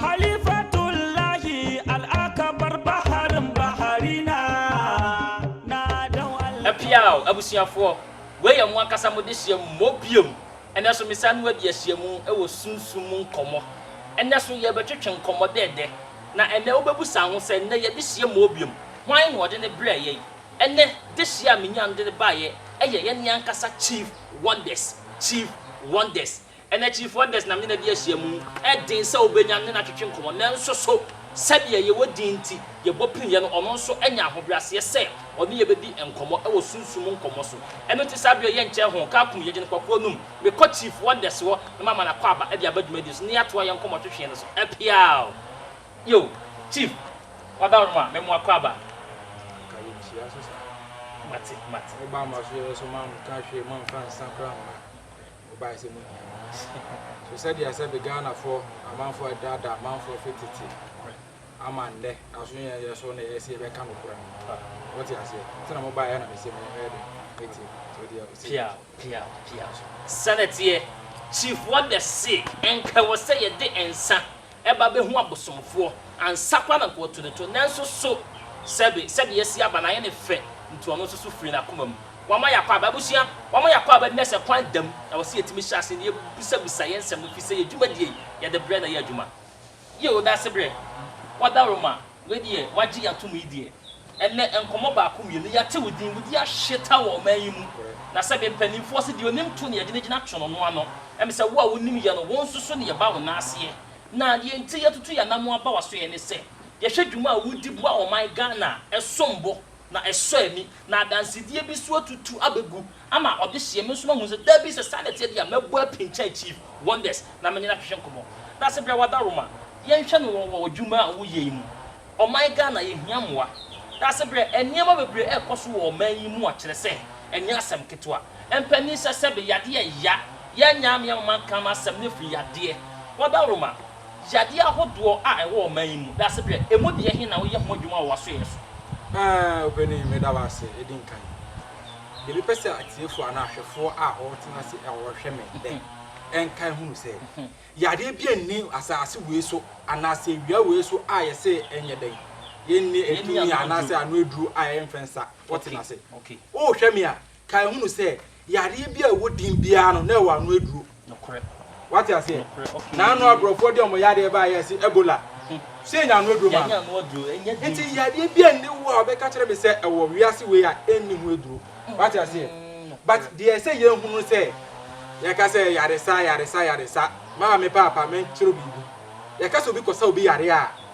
Halifatullahi Al-Akbar Baharun Baharina Na Dɔn Allah Apiaw abusuafoɔ, wei yɛ mo ankasa mo dehyeɛ mu mmɔ biom. Ɛnnɛ nso mesan mu adi ahyia mu wɔ sunsum mu nkɔmmɔ. Ɛnnɛ nso yɛrebɛtwetwe nkɔmmɔ dɛɛdɛ. Na ɛnnɛ wobɛbu saa ho sɛ, Nnɛ yɛn dehyeɛ mmɔɔ biom. Hwan na ɔde no brɛɛ yɛn? Ɛnnɛ dehyeɛ a menyaa no de no baeɛ yɛ yɛn ankasa Chief Wonders, Chief Wonders. Ɛnna akyirifoɔ Anders nam ne na de ahyia mu. Ɛden sɛ wobɛnya ne no atwetwe nkɔmmɔ, nanso so sɛdeɛ yɛwɔ din nti yɛbɔ piniiɛ no, ɔno nso anya ahobrɛaseɛ sɛ ɔne yɛn bɛdi nkɔmmɔ wɔ sunsum mu nkɔmmɔ so? Ɛno nti saa berɛ yi yɛnkyɛ ho, ka akum yɛgye no kpakuo no mu, mekɔ Chief Anders hɔ na mama no akwaaba de aba dwumadie so na yɛatoa yɛn nkɔmmɔtwetweɛ no so. Ɛpeaw! Yo, Chief, wada wo no ma me mo akwaaba. Anka yɛnhyia so saa. Mate, mate. Woba ama so yɛbɛsɔ, mamfa hwee, mamfa nsa koraa mma. Ɔbae sɛ munhia no. So sɛdeɛ sɛbe Ghanafoɔ amanfoɔ adaadaa amanfoɔ fi tete ama nnɛ nanso yɛn yɛ so na yɛse yɛbɛka nokorɛ no mote aseɛ nti na mobaeɛ na mese me ɛyɛ den mɛtie so deɛ ɔse Pia pia pia so sɛnɛteɛ. Chief Wagga se ɛnka ɛwɔ sɛ yɛde nsa ɛba bɛhu abosomfoɔ, ansa koraa na anka wɔatu ne to, nanso so sɛbe, sɛdeɛ asi aba no ayɛ no fɛ, nti ɔno nso so firii n'akoma mu. Wama yɛakɔ aba. Abusua, wama yɛakɔ aba nnɛ sɛ kwan da mu, na ɛwɔ sɛ yɛtumi hyɛ aseɛ na yɛbisabisa yɛn nsɛm no, ɛfiri sɛ yɛn dwumadie yi, yɛde berɛ na ɛyɛ adwuma. Yɛ wo dasebrɛ. Wɔda wo ma. Wei deɛ wagye yɛn atom yi deɛ. Ɛnnɛ nkɔmmɔ baako mmienu yɛate wo din, wo din ahyeta wɔ ɔman yi mu. Na sɛdeɛ mpanimfoɔ se deɛ ɔnim to nea gyinagyina to no no ano. Ɛm sɛ wo a wonim yɛn no wo nso so ne yɛba wo nan aseɛ. Na deɛ enti yɛatutu yɛn anammɔn aba w'asoɛeɛ ne sɛ yɛhwɛ dwuma a wodi boa ɔman Ghana a ɛsom bo na ɛsɔ ani. Na adansedie bi nso atutu abɛgu. ama ɔde hyeɛ me nso mahu sɛ dabi sɛ saa na ɛteɛ deɛ a mɛbɔ apin kyɛn chief wonders na menye no ahwehwɛ nkɔmmɔ dase brɛ wadaroma yɛnhwɛ no wɔ wɔ adwuma a woyɛ yi mu ɔman Ghana yɛhia mmoa dase brɛ nneɛma bebree ɛkɔ so wɔ ɔman yi mu a kyerɛ sɛ ɛnyɛ asɛm ketewa mpanin sɛ sɛbe yadeɛ ya yɛn nyaa me ama manka m'asɛm no firi yadeɛ wadaroma yadeɛ ahodoɔ a ɛwɔ ɔman yi mu dase brɛ ɛmu deɛ he na woyɛ ho adwuma wɔ w'asoɛeɛ so. Aa opanin meda wo ase edi nkan. Yɛbɛpɛ sɛ atiefo anaa ahwɛfo a wɔtena ase a wɔhwɛ me nnɛ nkae hunu sɛ, yadeɛ biara nni asase wei so anaasɛ awia wei so a yɛse ɛnyɛ dɛn, yɛnni tumi anaasɛ ano aduro a ɛmfɛ nsa. Wɔtena ase. Worehwɛ me a, kae hunu sɛ, yadeɛ biara a ɛwɔ din biara no, na ɛwɔ ano aduro. Nokorɛ. Wate aseɛ? Nokorɛ, okay. Na ano aborɔfoɔ de wɔn yadeɛ baa yɛ se Ebola. Hmm. So yɛnya ano aduro ma no? Yɛnya ano aduro, ɛnyɛ duro. Nti yadeɛ bi ɛnni hɔ a wɔbɛka kyerɛ me sɛ ɛwɔ wiase wei a ɛnni ho aduro. Hmm. Wate aseɛ? Hmm, But deɛ ɛsɛ yɛhunu sɛ yɛka sɛ yaresa, yaresa, yaresa. Maa me paapa menkyerɛ biribi. Yɛka sɛ obi kɔsa obi yareɛ a,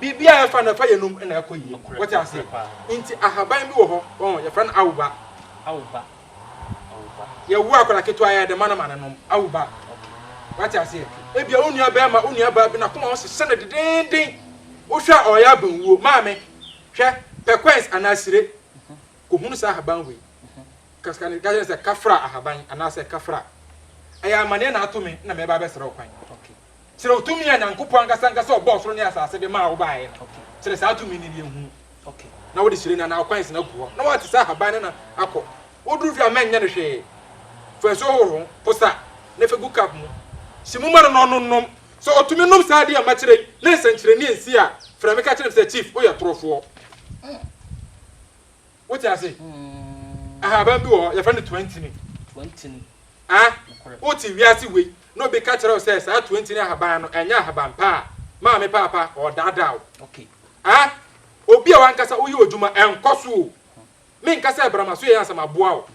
Biribi a ɛfa no ɛfa yɛnom na ɛkɔ yie. Wote aseɛ? Nti ahaban bi wɔ hɔ, wɔn yɛfrɛ no awuba. Awuba. Awuba. Yɛwo akwadaa ketewa yɛ de ma no ma no nom. Awuba. Wote aseɛ? Ebia wo nua bɛrima, wo nua baa bi na kɔma ɔsesɛ no dedeenden. Wohwɛ a ɔyɛ abɛnwuo. Maame, hwɛ, pɛ kɔɛns anaa sire. Kɔhunu saa ahaban wei. Kasa ne kasa ne sɛ kafra ahaban anaasɛ kafra. Ɛyɛ amaneɛ na ato me na mɛba abɛsrɛ wo kwan. Kyerɛw tumi a Nyankopɔn ankasa ankasa a ɔbɔɔ soro ne asase de maa wo baeɛ no. Kyerɛ saa tumi no deɛ hu na wode hyire no anaa wo kwansi no agu hɔ na woate sɛ ahaban no na akɔ. Woduru fie a mɛnyɛ no hwee. Fa nsuo hohoro ho, posa, na fa gu cup mu. Hye mu ma no na ɔno nnom. Sɛ ɔtumi nom saa adeɛ a makyerɛ yi na nsɛnkyerɛnne ansi a, frɛ me ka kyerɛ me sɛ, Chief, woyɛ torofoɔ. Wote ase? Ahaban bi wɔ hɔ, yɛfrɛ no toantini. Toantini. Ah, wote wiase wei, na obi ka kyerɛ wo sɛ saa toantini ahaban no, ɛnyɛ ahaban pa a, maame paapa, ɔredaadaa wo. Okay. Ah, obi a wankasa woyɛ odwuma, ɛnkɔ so o. Menka sɛ bra m'asoɛeɛ ansa maboa wo.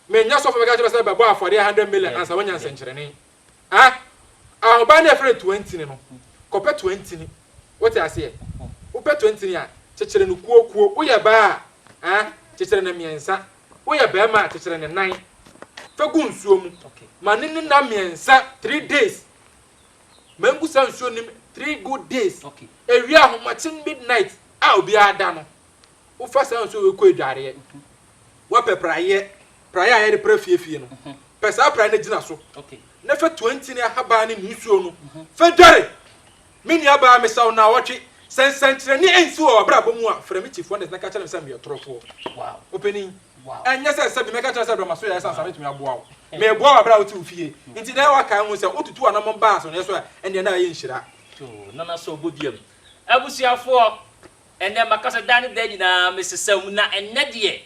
Menyɛ sɔfo mɛka kyerɛ sɛ bɛbɔ afɔdeɛ 100 million ansa woanya nsɛnkyerɛnne. Ah ah ɔbaa no a yɛfrɛ no Toantini no, kɔpɛ Toantini. Wote aseɛ? Wopɛ Toantini a, kyekyere no kuokuo. Woyɛ baa a, ah, kyekyere no mmiɛnsa. Woyɛ barima a, kyekyere no nan. Fa gu nsuo mu. Ma no nni nna mmiɛnsa, three days. Ma ɛngu saa nsuo no mu three good days. Ɛwie ahomakye midnight a obiara da no, wofa saa nsuo wei kɔ adwareɛ. Woapɛ praeɛ, praeɛ a yɛde pra fie fie no, pɛ saa praeɛ no gyina so, na fa tua ntini ahaban no ne nsuo no, fa dware. Me nuabaa, mesa wo naawɔtwe. Sɛ nsɛnkyerɛnne ansi wɔ w'abrabɔ mu a, frɛ me Chief Wonders na ka kyerɛ me sɛ meyɛ torofoɔ. Ɔpanin, ɛnyɛ sɛ sɛbi mɛka kyerɛ wo sɛ brɛ m'aso yɛɛ sɛ ansa mɛtumi aboa wo. Meboa wo berɛ a wote wo fie nti, na ɛwɔ kan ho sɛ wotutu w'anammɔn ba asɔneɛ so a, ɛnneɛ na ayɛ nhyira. To nanaso bɔ dua mu. Abusuafoɔ, Ɛnnɛ makasa daa ne daa nyinaa mesesa mu na ɛnnɛ deɛ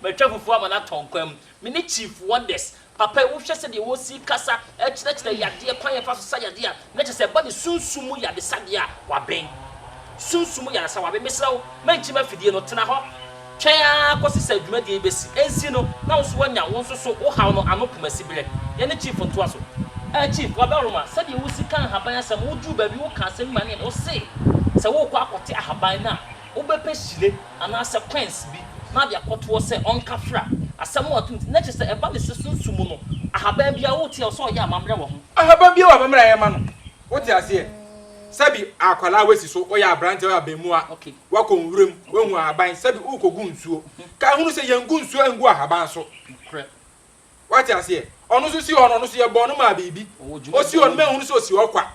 matwa fufuo ama no atɔ nkwa mu. Me ne Chief Wonders. Papa yi wohwɛ sɛdeɛ wɔsi kasa kyerɛkyerɛ yadeɛ, kwan a yɛfa so sa yadeɛ a, na kyerɛ sɛ ɛba ne sunsum mu yadesabea a wabɛn. Sunsum mu yadesabea a wabɛn. Mesrɛ wo, ma nkyima afidie no, tena hɔ. Twɛn ara kɔsi sɛ dwumadie yi bɛsi. Ɛnsi no, na wo nso woanya wo nso so wo haw no ano poma siberɛ. Yɛne Chief ntoa so. Eh Chief, Waberoma, sɛdeɛ wo si ka nhaban asɛm, wo duru baabi wo ka asɛm bi ma ne yɛ dɛ, wo se sɛ wo rekɔ akɔte ahaban no a, wo bɛ pɛ hyire anaa sɛ quenns bi na ade akɔ toɔ sɛ ɔnka fra. Asɛm no ato nti, na kyerɛ sɛ ɛba ne sɛ sunsum mu no, ahaban biara wo te a, ɔsɛ ɔyɛ amammerɛ wɔ ho. Ahaban biara wɔ amammerɛ a ɛyɛ ma no, wo te aseɛ? Sɛbi akwadaa a wasi so, ɔyɛ aberanteɛ, ɔyɛ abɛmua. Okay. Woakɔ nwuram, woahu ahaban sɛbe worekogu nsuo. Kae hunu sɛ yɛngu nsuo ngu ahaban so. Wate aseɛ? Ɔno nso si hɔ no, ɔno nso yɛbɔɔ no maa biribi. Ɔsi hɔ no, manhunu sɛ ɔsi hɔ kwa.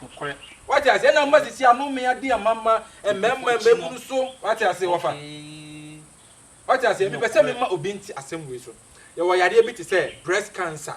Wate aseɛ? Ɛna mma sisi ano me adeɛ a mama mmarima a mabunu so. Wate aseɛ? Wɔfa. Wate aseɛ? Mepɛ sɛ mema obi nte asɛm wei so. Yɛwɔ yadeɛ bi te sɛ breast cancer.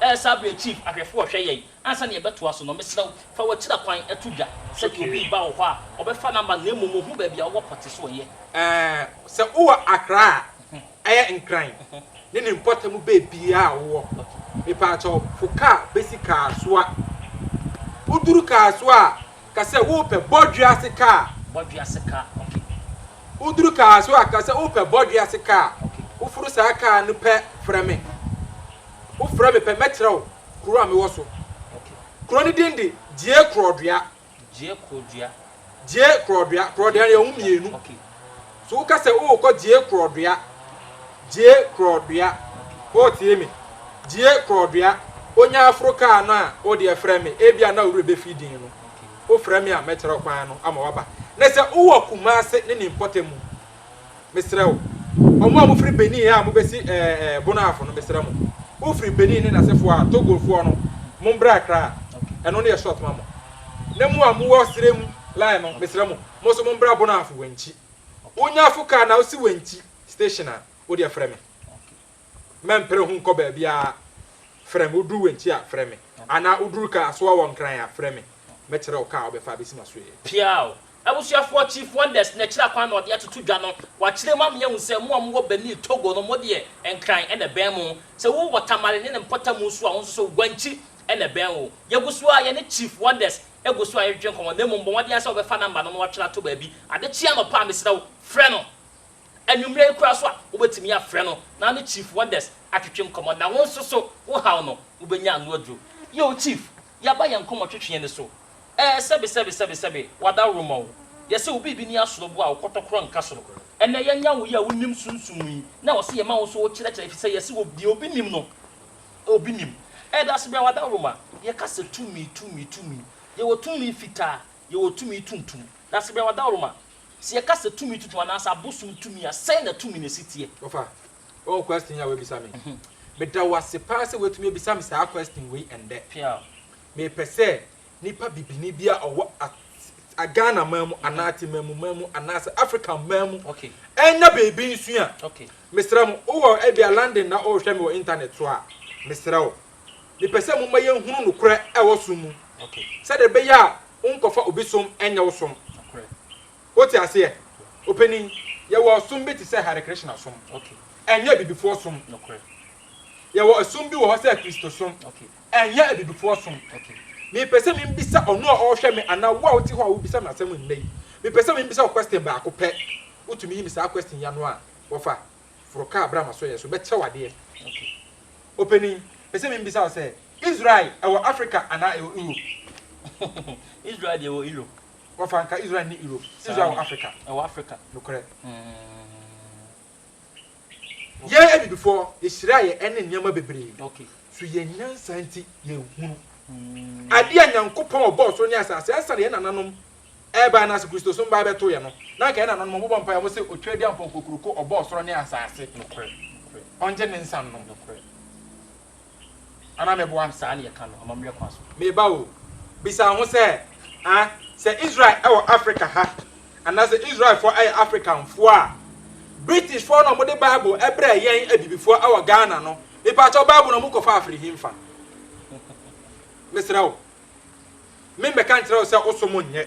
Ɛresa bere a Chief ahwɛfo rehwɛ yɛn. Ansa na yɛbɛtoa so no, mesrɛ wo, fa w'akyira kwan to dwa sɛ deɛ obi reba wɔ hɔ a, ɔbɛfa number no na mmom ohu baabi a wowɔ pɔte so yɛ. Sɛ wowɔ Accra a, ɛyɛ Nkran ne ne mpɔtam baabiara a wowɔ, mepaakyɛw fo kaa besi Kasoa. Woduru Kasoa a, ka sɛ worepɛ Bɔdwease kaa. Bɔdwease kaa, okay. Woduru Kasoa a, ka sɛ worepɛ Bɔdwease kaa. Woforo saa kaa no pɛ, frɛ me. Wofrɛ me pɛ, mɛkyerɛ wo kuro a mewɔ so. Kuro no din de Gyie Korɔdua. Gyie Korɔdua. Gyie Korɔdua. Korɔdua no yɛwɔ ho mmienu. So woka sɛ worekɔ Gyie Korɔdua. Gyie Korɔdua. Woretie me? Gyie Korɔdua. Wonya aforo kaa no a, wo deɛ frɛ me. Ebia na wo werɛ bɛfi din no. Wofrɛ me a, mɛkyerɛ wo kwan no ama woaba. Na sɛ wowɔ Kumase ne ne mpɔtam. Mesrɛ wo, ɔmo a mofiri Benin a mobɛsi ɛɛɛ Bonahafo no, mesrɛ mo, wofiri Benin ne n'asefoɔ a, Togofoɔ no, mombrɛ Accra, ɛno no yɛ short ma mo. Na mo a mowɔ Serem line no, mesrɛ mo, mo nso mombrɛ Bonahafo, Wenchi. Wonya afo car na wosi Wenchi station a, wodeɛ frɛ me. Mɛmpere ho nkɔ baabiara, frɛ me, woduru Wenchi a, frɛ me. Anaa woduru Kasoa wɔ Nkran a, frɛ me. Mɛkyerɛ wo car a wobɛfa abɛsi m'asoɛɛ. Piaw! Abusuafoɔ Chief Wonders na akyire kwan na ɔde atoto dwa no, wakyerɛ mu ama yɛahu sɛ mo a mowɔ Benin, Togo no mo deɛ Nkran na ɛbɛn mo. Sɛ wo wɔ Tamale ne ne mpɔtamu nso a wo nso so Guanchi na ɛbɛn wo. Yɛgu so ara yɛne Chief Wonders gu so a yɛtwetwe nkɔmmɔ na mmom bɔ mmɔden ara sɛ wobɛfa number no na woatwe no ato baabi adekyee anɔpa a mesrɛ wo frɛ no anwummerɛ yi koraa so a wobɛtumi afrɛ no na wo ne Chief Wonders atwetwe nkɔmmɔ na wo nso so wo haw no wobɛnya ano aduro. Yoo Chief, yɛaba yɛn koma twetweɛ no so, ɛɛ sɛbe sɛbe sɛbe sɛbe wadaworo ma wo, yɛsɛ wo biribi ni asoro bo a wo kɔtɔkorɔ nka soro, ɛnɛ yɛnya wo yi a wo nim sunsum yi na wɔse yɛma wo nso wo kyerɛkyerɛ efisɛ yɛse wɔ deɛ obi nim no obi nim, ɛda ase bra wadaworo ma yɛka sɛ tumi tumi tumi yɛwɔ tumi fitaa yɛwɔ tumi tuntum da ase bra wadaworo ma sɛ yɛka sɛ tumi tuntum anaasɛ abosom tumi a sɛn na tumi no si teɛ. Wɔfa Oh question yi a w'abisa me yi me da w'ase paa sɛ w'atumi abisa me saa question wei ɛndɛ me pɛ sɛ nipa bibini bi a ɔwɔ a Ghana man mu anaa Temamu man mu anaa sɛ African man mu ɛnya biribi nsua me srɛ mo wo wɔ ɛbia London na o hwɛ me wɔ internet so a me srɛ wo me pɛ sɛ mo ma yɛn hunu nokorɛ ɛwɔ som mu sɛdeɛ ɛbɛyɛ a wo nkɔfa obi som ɛnyɛ wo som Wote aseɛ? Opanin, yɛwɔ ɔsom bi te sɛ Hare Krishna som. Ɛnyɛ Abibifoɔ som. Yɛwɔ ɛsom bi wɔ hɔ sɛ Kristosom. Ɛnyɛ Abibifoɔ som. Mepɛ sɛ mibisa ɔno a ɔrehwɛ me anaa wo a wote hɔ a wobisa me asɛm nnɛ yi, mepɛ sɛ mibisa wo question baako pɛ. Wotumi yi me saa question yi ano a, wɔfa, foro kaa bra m'asoɛeɛ so, bɛkyɛ wo adeɛ. Opanin, pɛ sɛ mibisa wo sɛ, Israel wɔ Africa anaa ɛwɔ Europe? Israel deɛ ɛwɔ Europe. Wɔfa anka Israel nni Europe. Israel wɔ Africa. Ɛwɔ Africa. Nokorɛ. Yɛn Abibifoɔ, yɛhyira yɛ ɛne nneɛma bebree. Okay. So yɛn nyansa nti yɛnhunu. Adeɛ a Nyankopɔn ɔbɔɔ soro ne asaase ansa na yɛn nananom ɛreba anaase Kristosom baeɛ bɛto yɛ no, na anka yɛn nananom wɔbɔ mpaeɛ wɔn se Otweadiampɔn Kokuroko ɔbɔɔ soro ne asaase. Nokorɛ. Nokorɛ. Ɔngye ne nsa nnom. Nokorɛ. Ana mɛboa no saa ne yɛka no amammerɛ kwan so? Meba o. Bisa wo ho sɛ, a Sɛ Israel wɔ Afrika ha, anaa sɛ Israelfoɔ yɛ Afrikanfoɔ a, Britishfoɔ na wɔde Bible brɛɛ yɛn Abibifoɔ wɔ Ghana no, mepakyɛw Bible no wɔkɔfaa firi hefa? Mesrɛ wo. Memmɛka nkyerɛ wo sɛ wosom nyɛ.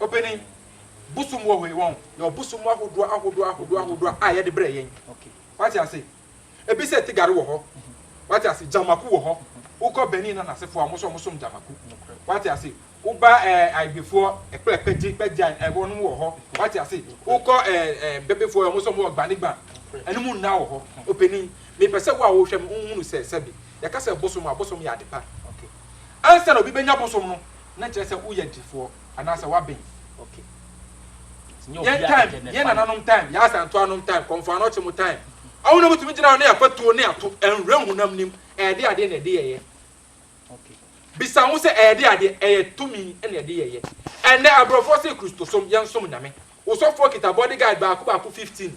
Opanin, bosom wɔ hɔ, wɔn yɛwɔ bosom ahodoɔ ahodoɔ ahodoɔ ahodoɔ a yɛde brɛ yɛn. Wate ase? Ebi sɛ tigare wɔ hɔ. Wate ase? Gyamako wɔ hɔ. Wokɔ Benin na n'asefoɔ a wɔn nso wɔsom gyamako. Wate ase? Woba ɛɛ Aigbefoɔ ɛkplɛ pɛgye pɛgya ɛwɔ nom wɔ hɔ. Wate ase? Wokɔ ɛɛ ɛɛ Bebefoɔ wɔn nso wɔn wɔ gbanigba. Ɛno mu nna wɔ hɔ. Opanin, mepɛ sɛ wo a wohwɛ me wohunu sɛ sɛbi yɛka sɛ bosom a bosom yɛ adepa. Ansa na obi bɛnya bosom no, na kyerɛ sɛ woyɛ defoɔ anaasɛ woaben. Yɛn time, yɛn nananom time, yɛn asantoanom time, Kɔmfoanoɔkye mo time, ɔmo na motumi gyina hɔ ne afatuo ne ato nwura honam nim, ɛde adeɛ na ɛde yɛyɛ. Bisa ho sɛ ɛde adeɛ, ɛyɛ tumi na ɛde yɛyɛ. Ɛnnɛ aborɔfoɔ se Kristosom, yɛnsom Nyame. Wo sɔfoɔ kita bodyguard baako baako 15.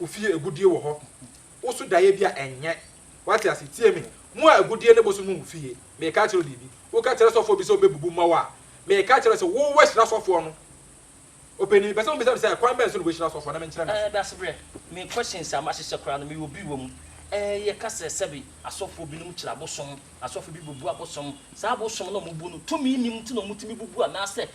Wo fie agudie wɔ hɔ Wo so daeɛ bi a ɛnyɛ Wate ase? Tie me Mo a agudie ne bosom wɔ mo fie Mereka akyerɛ wo biribi Woka kyerɛ sɔfoɔ bi sɛ ɔbɛbubu mma wo a Mereka akyerɛ wo sɛ wo woahyira sɔfoɔ no Ɔpanin mepɛ sɛ mo bisa me sɛ kwan bɛn so na woahyira sɔfoɔ na menkyerɛ no ase. Dasebrɛ, me questions a mahyehyɛ koraa no meyɔ bi wɔ mu Ɛɛ yɛka sɛ sɛbe asɔfoɔ binom kyerɛ abosom Asɔfo bi bubu abosom Saa abosom no a wɔbu no tumi nnim nti na wɔtumi bubu anaasɛ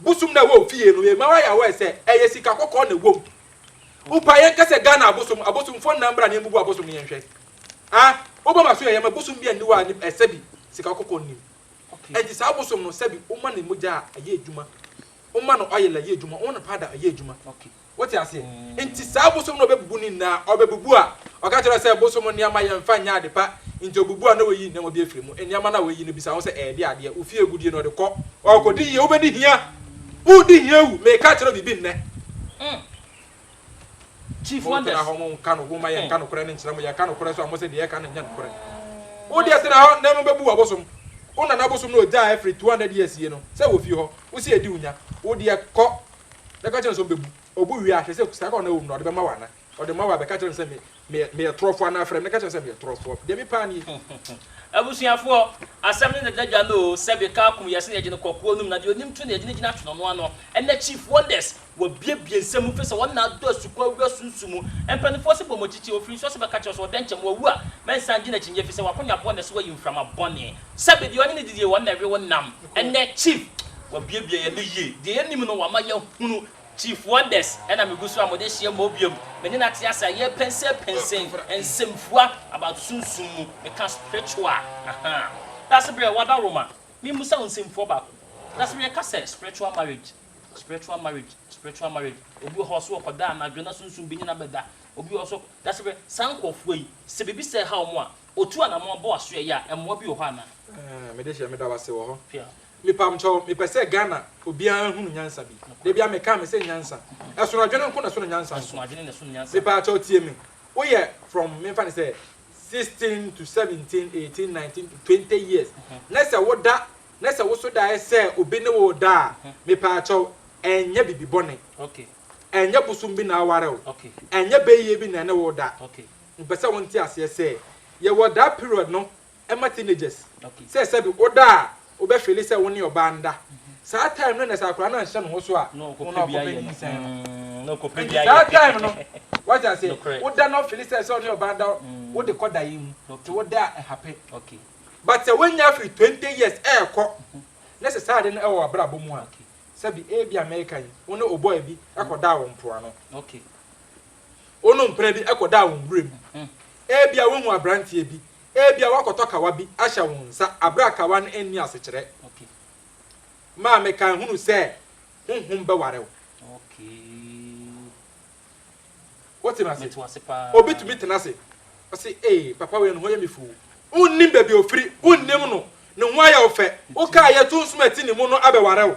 Bosom na ɛwɔ ofie no yɛma wayɛ aware sɛ ɛyɛ sika kɔkɔɔ na ɛwɔ mu. Wopa yɛn ka sɛ Ghana abosom, abosomfoɔ nna mbra na yɛn bubu abosom no yɛn hwɛ. Ah, wobɔ maso yɛ yɛma bosom bi anni hɔ a ne ɛsɛbi sika kɔkɔɔ nnim. Ɛnti saa abosom no sɛbi woma ne mogya a ɛyɛ adwuma, woma no oil ɛyɛ adwuma, woma no powder ɛyɛ adwuma. Wote aseɛ? Nti saa bosom no a ɔbɛbubu ne nyinaa, ɔbɛbubu a, ɔka kyerɛ wo sɛ bosom nneɛma yɛmfa nyɛ ade pa, nti ɔbubu a na wayi nneɛma bi afiri mu. Nneɛma no a wayi no bisa wo sɛ ɛɛde adeɛ, wo fie agudeɛ no ɔde kɔ, ɔɔkɔdi yie, wobɛdi hia, woredi hia awu, meeka akyerɛ wo biribi nnɛ. Chief Wonders. Montena hɔ monka no, momma yɛnka nokorɛ no nkyerɛ mo, yɛka nokorɛ so a mose deɛ yɛka no nyɛ nokorɛ. Wodeɛ tena hɔ na mobɛbu wabosom, wo nana bosom no ɔgyaa ɛfiri 200 years yie no, sɛ wɔ fie hɔ, wose adi wo nya, wodeɛ kɔ, na ɛka kyerɛ no sɛ ɔbɛbu. Ɔbu wie a, hwɛ sɛ sika ko a na ɛwɔ mu no, ɔde bɛma wo anaa? Ɔde ma wo a, bɛka kyerɛ no sɛ, Me, me, meyɛ torɔfoɔ anaa? Frɛ me na ka kyerɛ no sɛ meyɛ torɔfoɔ. Deɛ mepɛ ara nie. Abusuafoɔ, asɛm no deda dwa no o, sɛbe kaa kum yɛn se na yɛgye no kɔ kuo no mu, na deɛ ɔnim to na yɛgye no gyina twene no ano. Ɛnnɛ Chief Wonders, wabiebie nsɛm mu, fisɛ wɔn na adɔ asukɔ awura sunsu mu. Mpaninfoɔ se bɔ mo akyikyie, ɔfiri nsuo se bɛka kyerɛ wo sɛ ɔdɛnkyɛm, wawu a, mɛnsan gye no akyinnyeɛ, fisɛ wakonya bɔne so wayi mframa bɔne. Sɛbe deɛ ɔne no didie, wɔn na ɛwe wo nam. Ɛnɛ chief wabiebie yɛn no yie. Deɛ yɛnim no wama yɛahunu. Chief wonders na megu so a mode ahyia mmɔ biom. Me ne no ate ase a yɛpɛnsɛn pɛnsɛn nsɛmfua about sunsum mu. Meka spiritual a ahaa. Dasebrɛ wada roma me mmusa wo nsɛmfua baako. Dasebrɛ yɛka sɛ spiritual marriage spiritual marriage spiritual marriage obi wɔ hɔ ɔse ɔkɔda anadwo na sunsum bi ne no abɛda obi wɔ hɔ so Dasebrɛ saa nkurɔfoɔ yi sɛ biribi sɛɛ ha wɔn a Otu anamɔn bɔ asoɛ yi a ɛmoa bi wɔ hɔ anaa. Eeh me dehyɛ meda wase wɔ hɔ mepamkyɛw mepɛ sɛ Ghana obiara hunu nyansa bi dabia mekaa me sɛ nyansa ɛsono adwene nko na ɛsono nyansa nso mepaakyɛw tie me woyɛ from memfa no sɛ sixteen to seventeen eighteen nineteen to twenty years na sɛ woda na sɛ woso daeɛ sɛ obi ne wo da a mepaakyɛw ɛnyɛ bibi bɔne ɛnyɛ bosom bi na aware wo ɛnyɛ bɛyie bi na ɛne wo da Mepɛ sɛ wo nte aseɛ sɛ yɛwɔ daa period no ɛma teenagers sɛ sɛbi wo da a wo bɛ feeli sɛ wo ne ɔbaa nda saa time no na sɛ akwadaa no anhyɛ ne ho so a na ɔkɔpɛ nyinsɛn no nti saa time no wate aseɛ wo da na wo feeli sɛ sɛ wo ne ɔbaa nda wo de kɔ daeɛ mu nti wo da a ɛhape but sɛ wo nya firi 20 years ɛɛkɔ na sɛ saa ade no ɛwɔ w'abrabɔ mu a sɛbi ebi America yi wo ne obɔɔ bi ɛkɔ daa wɔ mpoano Wonom mpena bi kɔdaa wɔn werɛ mu. Ebia woahu aberanteɛ bi, ebia woakɔtɔ kawa bi ahyɛ wo nsa bere a kawa no nni asekyerɛ. Maame Kan hunu sɛ honhom bɛware wo. Wote me ase? Obi tumi tena ase, ɔse, Ee, papa wei, ne ho yɛ me fuu. Wonnim baabi a ɔfiri, wonnim no, ne ho ayɛ wo fɛ. Wokaa yɛ to nsom a ɛte ne mu no abɛware wo.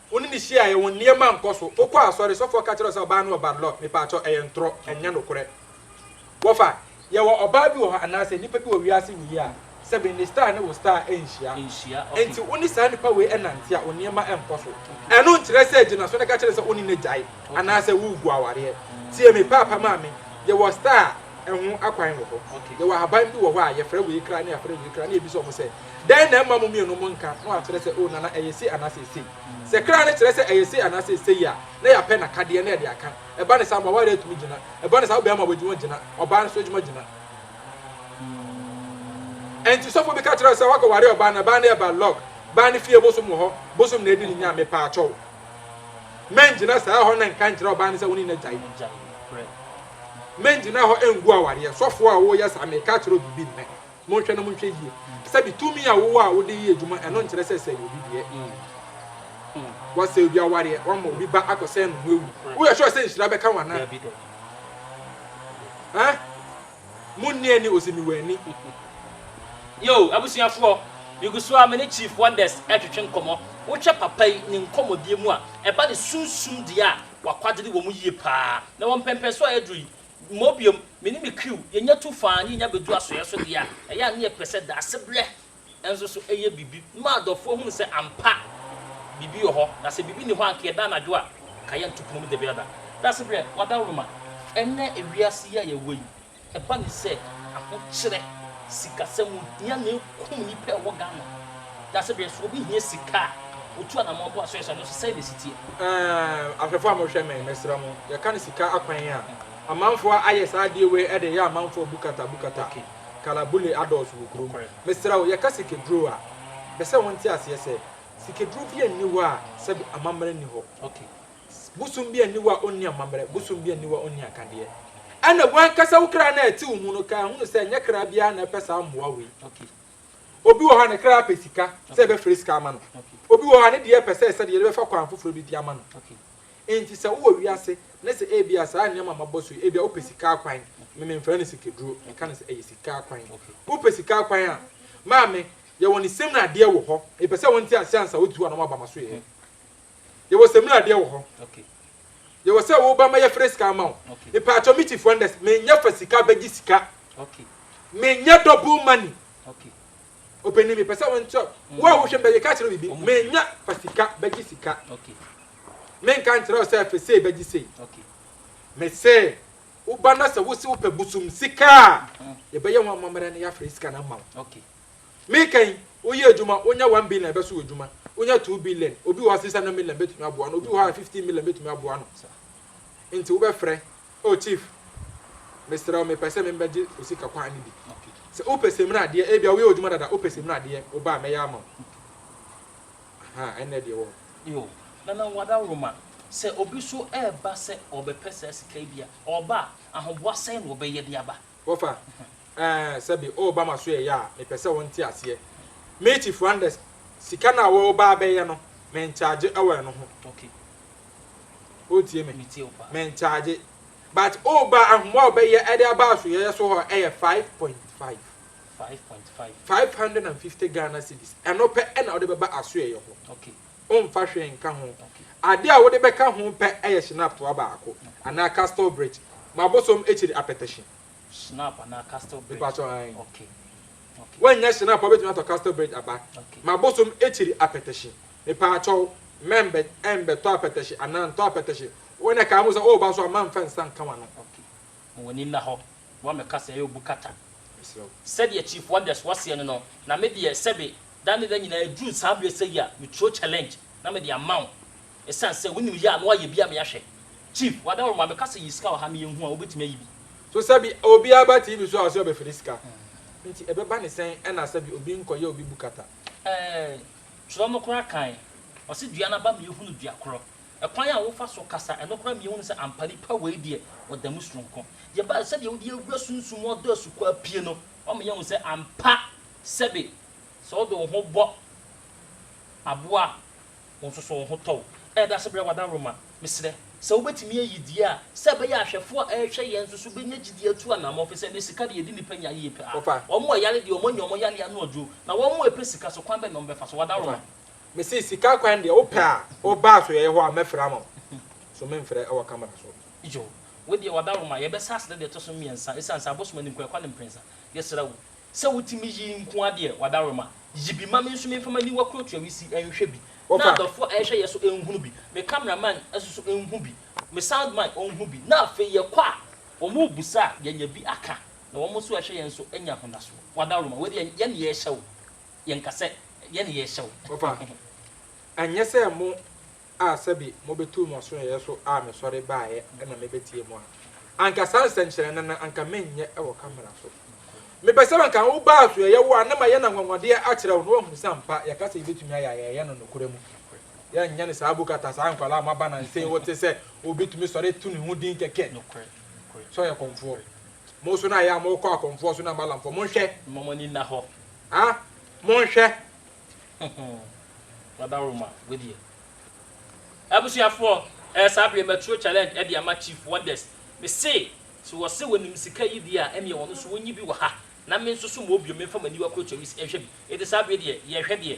Wo ne no hyiaeɛ, wo nneɛma ankɔ so, wokɔɔ asɔre, sɔfoɔ ka kyerɛɛ wo sɛ ɔbaa no wɔ Banlord, mepaakyɛw, ɛyɛ ntorɔ, ɛnyɛ nokorɛ. Wɔfa, yɛwɔ ɔbaa bi wɔ hɔ anaasɛ nnipa bi wɔ wiase nyiyɛ a, sɛbe ne star ne wo star nhyia, enti wo ne saa nnipa wei nnante a, wo nneɛma nkɔ so. Ɛno nkyerɛ sɛ gyina so na ka kyerɛ no sɛ wo ne no agyae anaasɛ woregu awareɛ. Tie me, Paapa Maame, yɛwɔ star a, ho akwan wɔ hɔ. Yɛwɔ ahaban bi wɔ hɔ a yɛfrɛ wei kra na yɛafrɛ wei kra na yɛbisa wɔn sɛ, Dɛn na ɛmma mo mmienu monka? Na wɔakyerɛ sɛ, Oh, Nana, ɛyɛ sei anaasɛ ɛsei. Sɛ kra no kyerɛ sɛ ɛyɛ sei anaasɛ ɛsei a, na yɛapɛ n'akadeɛ na yɛde aka. Ɛba no saa a, mo awareɛ tumi gyina. Ɛba no saa a, ɔbarima a wɔadwuma gyina, ɔbaa nso adwuma gyina. Ɛnti sɔfoɔ bi ka kyerɛ wo sɛ woakɔware ɔbaa no, ɛbaa no yɛ bad luck, baa no fie bosom wɔ hɔ, bosom na ɛdi ne nya a, mepaakyɛw, mɛngyina saa hɔ na nka nkyerɛ ɔbaa no sɛ wo ne no agyae. Mɛngyina hɔ ngu awareɛ. Sɔfoɔ a woreyɛ saa, mereka akyerɛ wo biribi nnɛ. Monhwɛ na monhwɛ yie. Sɛbi tumi a wowɔ a wode yɛ adwuma, ɛno nkyerɛ sɛ sɛe obi deɛ. Woasɛe obi awareɛ, woama obi ba akɔsɛe no mu awu. Woyɛ sure sɛ nhyira bɛka wo anaa? Ɛh? Monni ani, ɔse mewɔ ani. Yoo abusuafoɔ, megu so ara me ne Chief Wonders retwetwe nkɔmmɔ. Wohwɛ papa yi ne nkɔmmɔdie mu a, ɛba ne sunsum deɛ a, W'akwagyede wɔ mu yie paa. Na wɔ mpɛnpɛnsoɔ a aduru yi, mmɔ biom, me ne me kriw, yɛnya tu faa ne yɛnya bɛdu asoɛeɛ so deɛ a, ɛyɛ a ne yɛpɛ sɛ daasebrɛ nso so yɛ biribi ma adɔfoɔ hunu sɛ ampa biribi wɔ hɔ, na sɛ biribi nni hɔ a anka yɛda anadwo a ka yɛnto pono mu dabiada. Daasebrɛ, w'adaworoma. Ɛnnɛ wiase yi a yɛwɔ yi, Ɛba ne sɛ ahokyerɛ sikasɛm mu hia na ɛkum nnipa a ɛwɔ Ghana. Dase berɛ so obi hia sika a, ɔtu anamɔn boa sɛ ɔyɛ saa no so. Sɛn na ɛsi teɛ? Ɛɛm, ahwɛfoɔ a mohwɛ me, mesrɛ mo, yɛka no sika akwan a, amanfoɔ ayɛ saa adeɛ wei de reyɛ amanfoɔ bukata bukata. Kalabule adɔɔso wɔ kurom. Mesrɛ wo, yɛka sikaduro a, mepɛ sɛ wonte aseɛ sɛ, sikaduro biara nni hɔ a sɛbe amammerɛ nni hɔ. bosom bi aniwa a onni amammerɛ, bosom bi aniwa a onni akadeɛ. Ɛnna w'ankasa wo kra no a ɛte wo mu no kaa hunu sɛ ɛnyɛ kra biara na ɛpɛ saa mmoa wei. Obi wɔ hɔ a ne kra pɛ sika, sɛ yɛbɛfrɛ sika ama no. Obi wɔ hɔ a ne deɛ pɛ sɛ ɛsɛ deɛ yɛbɛfa kwan foforɔ bi de ama no. Enti sɛ wowɔ wiase na sɛ ebia saa nneɛma a mabɔ so yi, ebia wopɛ sika akwan, me memfrɛ no sikaduro, meka no sɛ ɛyɛ sika akwan. Wopɛ sika akwan a, maame, yɛwɔ ne same no adeɛ wɔ hɔ, mepɛ sɛ wonte aseɛ ansa wode tu anaa woaba m'asoɛeɛ. Yɛwɔ samina adeɛ wɔ hɔ. Yɛwɔ sɛ woba ma yɛfrɛ sika ama wo. Mpaatwɔ me chief wonders menyɛ fa sika bɛgye sika. Menyɛ double money. Opanin mepɛ sɛ wonkyɛ wo a wohwɛ bɛyɛ ka kyerɛ bibi menyɛ fa sika bɛgye sika. Menka nkyerɛ wo sɛ fɛ sei bɛgye sei. Mese woba na sɛ wose wopɛ bosom sika a yɛbɛyɛ ho amammerɛ na yɛafrɛ sika no ama wo. Meka yi, woyɛ adwuma, wonya one billion a, ɛbɛso w'adwuma. Wonya two billion, obi wɔ hɔ a six hundred million bɛtumi aboa no, obi wɔ hɔ a fifteen million bɛtumi aboa no. Nti wobɛfrɛ, Oh Chief, mesrɛ wo, mepɛ sɛ me bɛgye wo sika kwan no bi. Sɛ wopɛ samina adeɛ, ebia woyɛ w'adwuma dada, wopɛ samina adeɛ, wo ba a, mɛyɛ ama wo. Ahaa, ɛnna ɛdeɛ ɛwɔ hɔ. Yo, Nana Wadaroma, sɛ obi nso reba sɛ ɔrebɛpɛ saa sika yi bi a, ɔreba a, ahoboa sɛn na ɔbɛyɛ de aba? Wɔfa, Ɛɛ, sɛbe woreba m'asoɛeɛ a, mepɛ sɛ wonte aseɛ. Me, Chief Randers, sika no a woreba abɛyɛ no, menkyagye wɔ ɛno ho. Okay. Woretie me? Metie wo paa. Menkyagye. But woreba, ahoma a wɔbɛyɛ de aba asoɛeɛ so hɔ yɛ five point five. Five point five. Five hundred and fifty Ghana cedis. Ɛno pɛ na wode bɛba asoɛeɛ hɔ. Okay. ɔmfa hwee nka ho. Ade a wode bɛka ho pɛ yɛ Schnapp toa baako anaa Castle Brite ma bosom akyiri apɛtɛhye. Schnapp anaa Castle Brite? Mepakyɛw, aane. Okay. Okay. Woannya Schnapp a, wobɛtumi atɔ Castle Brite aba Okay. ma bosom akyiri apɛtɛhye. Mepakyɛw, mɛmbɛ, ɛmbɛtɔ apɛtɛhye anaa ntɔ apɛtɛhye. Wo na ɛkaa ho sɛ, woba so a, mamfa nsa nka w'ano. Okay. Ma w'ani nna hɔ, boa me kasa yɛ obu kata. Mesrɛ wo. Sɛdeɛ Chief Wonders wɔ seɛ no no, na me deɛ sɛbe da ne da nyinaa ɛduru saa berɛ sɛyi a me turo challenge na me de ama wo ɛsiane sɛ wonim yɛ a na wayɛ bi ama me ahwɛ. Chief, wada wo ma me kasa yi sika wɔ ha me yɛ nhu a wo bɛtumi ayi bi. So sɛbe obiara ba TV so a ɔse ɔbɛfiri sika nti ɛbɛba ne sɛn ɛna sɛbe obi nkɔ yɛ obi bu kata. Ɛɛ, twerɛ no koraa kan, ɔse dua no aba me yɛ hunu dua korɔ Ɛkwan a wofa so kasa ɛno koraa mia wohu sɛ ampa nipa wei deɛ ɔda mu soronko. Deɛ ɛba sɛdeɛ wode awura sunsum mu ɔdɔ asukɔa pie no ɔma yɛ hu sɛ ampa sɛbe sɛ wode wo ho bɔ aboa a wo nso so wo ho tɔ wo. Ɛyɛ dase brɛ w'adaworoma. Mesrɛ sɛ wobɛtumi ayi die a sɛ ɛbɛyɛ ahwɛfoɔ a ɛrehwɛ yɛn nso so bɛnya gyidie atu anamɔ ɛfisɛ ɛnɛ sika deɛ ɛdi nipa nya yie paa. Wɔn a ɛyare deɛ wɔn anya wɔn yare ano aduro na wɔn a ɛpɛ sika so kwan bɛn na wɔbɛfa so w'adaworoma. Mese sika kwan deɛ wopɛ a wo ba so yɛyɛ hɔ a mɛfrɛ ama wo so memfrɛ wɔ camera so. Joe, wo deɛ ɔdawuroma, yɛbɛsa ase dɛ deɛ ɛtɔ so mmiɛnsa, esiane sɛ abosom anim kwan kwa ne mprɛnsa. Yɛsrɛ wo sɛ wotumi yi nko ara deɛ ɔdawuroma, yi bi ma me nso memfa m'aniwa kurotoa me si nhwɛ bi, na adɔfoɔ a ɛrehwɛ yɛn so nhunu bi, me camera man nso nhu bi, me sound man ɔnhu bi, na afei yɛkɔ a, wɔrebisa a, yɛanya bi aka, na wɔn nso a ɛrehwɛ yɛn nso anya ahodasoɔ. Ɔdawuroma, wei deɛ yɛn na yɛrehyɛ wo. Yɛnka sɛ yɛne yɛrehyɛ wo. Papa, ɛnyɛ sɛ mo a sɛbi mobetu mo asoɛeɛ so a mesɔre baeɛ na mebetie mo a, anka saa nsɛnkyerɛnne no anka menyɛ wɔ camera so. Mepɛ sɛ anka woba asoɛeɛ wo a na mayɛ no anwanwadeɛ akyerɛ wo na woahu sɛ ampa yɛka sɛ yɛbɛtumi ayɛ a yɛyɛ no nokorɛ mu. Yɛnyɛ no saa bukata saa nkwadaa a moaba nansa yi wote sɛ obi tumi sɔre to ne ho din kɛkɛ sɛ ɔyɛ kɔmfoɔ. Mo nso na ayɛ a mokɔ akɔmfoɔ so na malamfoɔ. Monhwɛ. Momma mo ani nna hɔ. Ah monhwɛ hmm wada roma wei deɛ. Abusuafoɔ ɛɛ saa bere matuo challenge ɛde ama chief wonders me se so wɔ se wɔnim sika yi deɛ a ɛneɛ wɔn nso wɔnyi bi wɔ ha na me nso so mɔ bio menfa m'aniwa kuro cherries nhwɛ bi eti saa bere deɛ yɛhwɛ deɛ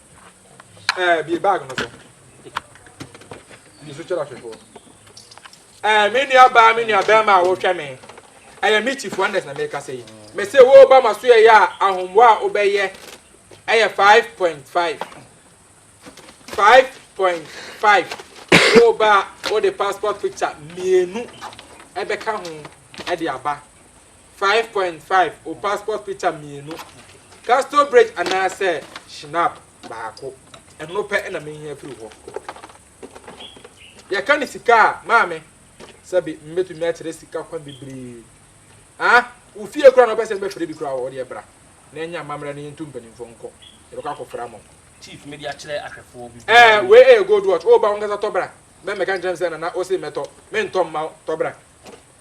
Ɛɛ bie bag no so. Di so kyerɛ ahwɛfoɔ. Ɛɛ me nua baa me nua bɛrima a wɔhwɛ me. Ɛyɛ me chief wonders na mekasa yi. Me se wo ba ma so yɛ yɛ a ahombo a wobɛyɛ ɛyɛ five point five. Five point five. Wo ba a wode passport picture mmienu ɛbɛka ho ɛde aba. Five point five, Wo passport picture mmienu, Castle Bridge anaasɛ Schnapp baako. Ɛno pɛ na mehia afiri hɔ. Yɛka ne sika a, maame, sɛbe mebɛtumi akyerɛ sika kwan bebree. Ah, wo fie kora na wopɛ sɛ mebɛfrɛ bi kora a, wodeɛ bra na ɛnyɛ amammerɛ na yɛntu mpanimfoɔ nkɔ. Yɛbɛkɔ akɔfra mo. Chief, mede akyerɛ ahwɛfoɔ bi. Ɛɛ, wei yɛ gold watch. Woba wo ankasa tɔ bra. Mɛmmɛka nkyerɛ me sɛ, Nana, wose mɛtɔ. Mentɔ mma wo. Tɔ bra.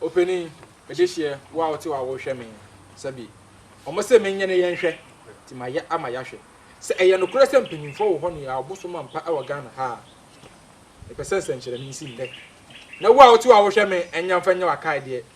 Opanin, mede hyeɛ wo a wote hɔ a worehwɛ me nsa bi. Wɔse menyɛ ne yɛnhwɛ, nti mayɛ ama yɛahwɛ. Sɛ ɛyɛ nokorɛ sɛ mpaninfoɔ wɔ hɔ noaa ɔbosom ampa wɔ Ghana ha a, mepɛ sɛ nsɛnkyerɛnee si nnɛ. Na wo a wote hɔ a worehwɛ me, ɛnyɛ mfa nyɛ w'akaedeɛ,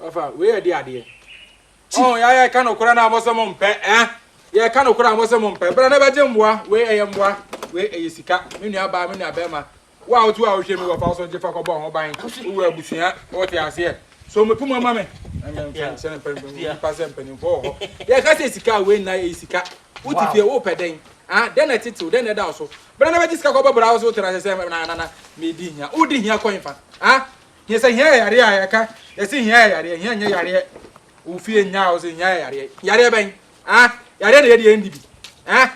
Ɔfa wei yɛ de adeɛ. Ɔn yɛ ayɛ ka nokorɛ na mo sɛ mo mpɛ eh. Yɛ ka nokorɛ a mo sɛ mo mpɛ. Bra na bɛgye mmoa wei ɛyɛ mmoa wei ɛyɛ sika. Me nua baa me nua bɛɛma. Wo a wotu a wohwɛ mi wɔfa wo so gye fa kɔbɔ ho ban wowɔ abusua wote aseɛ. So me puma ma me. Sɛne mpanimfoɔ sɛ mpanimfoɔ wɔ hɔ. Yɛ ka sɛ sika wei nna ɛyɛ sika. Wote fie wo pɛ dɛn. Ah dɛn na ɛtetew dɛn na ɛda wo so. Bra na bɛgye sika kɔbɔ bra wo so wote na sɛ sɛ na na na me di hia. Wo di hia kɔ he fa ah. Yɛ sɛ hia yɛ yareɛ a yɛka yɛsi hia yɛ yareɛ hia nyɛ yareɛ ofie nya a ɔsɛ hia yɛ yareɛ yareɛ bɛn ah yareɛ na yɛde yɛn di bi ah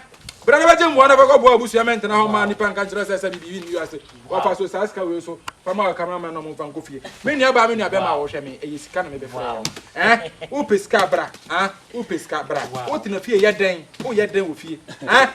bra na bɛgye mmoa na fɛkɔ boa abusua mɛ ntena hɔ maa nipa nka nkyerɛ sɛ sɛ bibi yi ni ase wafa so saa sika wei so fama wɔ kamera mɛ na ɔmo nfa nkɔ fie me nua baa me nua bɛma a wɔhwɛ me ɛyɛ sika na me bɛfrɛ yɛ no eh wopɛ sika bra ah wopɛ sika bra wotena fie yɛ dɛn woyɛ dɛn wɔ fie ah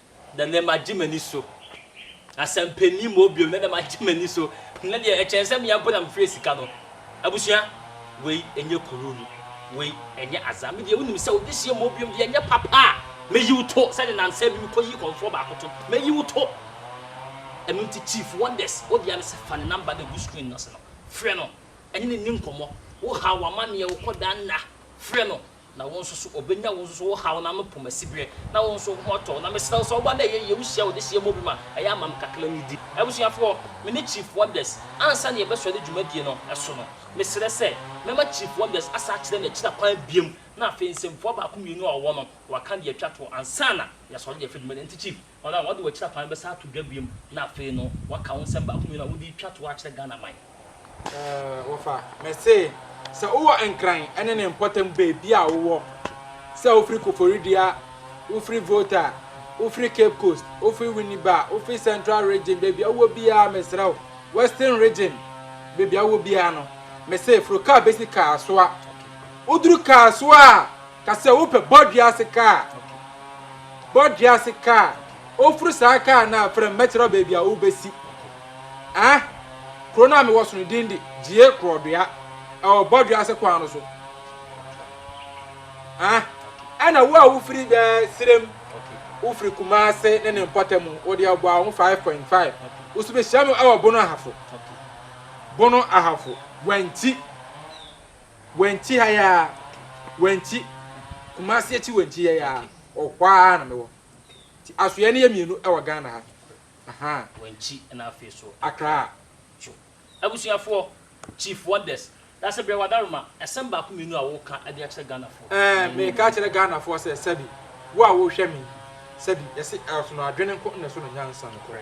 na nnɛ magye m'ani so. Asɛmpa nni mu hɔ bio, na nnɛ magye m'ani so. Nnɛ deɛ ɛkyɛn sɛ mmea mpo na mefrɛ sika no. Abusua, wei ɛnyɛ kururu, wei ɛnyɛ aza. Me deɛ wonim sɛ wobɛhyia mu hɔ bio deɛ ɛnyɛ papa a, mɛyi wo to sɛdeɛ nansa bi mekɔyii kɔmfoɔ baako to no, mɛyi wo to. Ɛno nti Chief Wonders, wo dea no sɛ fa ne number no gu screen no ase no, frɛ no, ɛne no nni nkɔmmɔ. Wohaw amanneɛ, wokɔda nna, frɛ no, Na wo nso so, obenya wo nso so wo haw na me pom asibereɛ, na wo nso wo ho atɔ wo, na mesrɛ wo sɛ woba na ɛyɛ yie, wohyia wo dehyeɛ mmɔ bi ma ɛyɛ ama me kakra me di. Abusuafoɔ, me ne Chief Wonders, ansa na yɛbɛsɔre dwumadie no so no, mesrɛ sɛ mɛma Chief Wonders asa akyerɛ me akyira kwan biom, na afei nsɛmfua baako mmienu a ɔwɔ no, waka deɛ atwa toɔ ansa na yɛasɔre de afiri dwuma no, ɛnti Chief. Hɔn a wɔada wɔ ekyir afa no bɛsan ato dwa bio mu na afei no wɔaka wo nsɛm baako mmienu a wode retwa tow akyerɛ Ghanaman. Wɔfa me se sɛ wowɔ Nkran ne ne mpɔtam baabi a wowɔ, sɛ wofiri Koforidua, wofiri Volta, wofiri Cape Coast, wofiri Winneba, wofiri Central Region, baabi a wowɔ biara mesrɛ wo, Western Region, baabi a wowɔ biara no, me se foro kaa besi Kasoa. Woduru Kasoa a. Ka sɛ wopɛ bɔ dua ase kaa. Bɔ dua ase kaa. Oforo saa kaa no a, frɛ me mɛkyerɛ wo baabi a wobɛsi. Ah, kuro no a mewɔ so no din de Gyie Korɔdua. Ɛwɔ bɔ dua ase kwan no so. Ah, ɛna wo a wofiri bɛ serem, wofiri Kumase ne ne mpɔta mu, wo deɛ ɔbɔ a ho 5.5. Wo so bɛhyia me ɛwɔ Bono Ahafo. Bono Ahafo, Wanti. Wanti ha yi ara, Wanti, Kumasi akyi Wanti ha yi ara, ɔhɔ ara na mewɔ. Nti asoɛeɛ no yɛ mmienu wɔ Ghana ha. Ahaa. Wanti na afei so Accra. Tjo. Abusuafoɔ, Chief Wonders, Dase brɛ w'adaroma, asɛm baako mmienu a woka de akyerɛ Ghanafoɔ. Ɛɛ, mereka akyerɛ Ghanafoɔ sɛ, sɛbi, wo a worehwɛ me yi, sɛbi, yɛse ɛsono adwene nko na ɛsono nyansa, nokorɛ.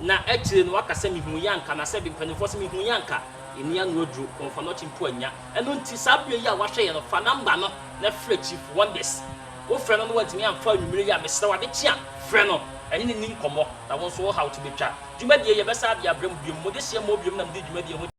Na akyire no waka sɛ, Mehuu yɛ anka, anaa sɛ bi mpanimfoɔ sɛ, Mehuu yɛ anka, ɛnni ano aduro, kɔnfanɔkye mpo annya. Ɛno nti, saa berɛ yi a woahwɛ yɛ no, fa namba no na frɛ Chief Wonders. Wofrɛ no na wantumi amfa anwummere yi a, mesrɛ wo, adekye a, frɛ no na ne ne nni nkɔmmɔ, na wo nso wo haw to bɛtwa. Dwumadie yi, yɛbɛsan de abrɛ mo biom. Mo dehyeɛ mmɔɔ biom na mede dwumadie ho.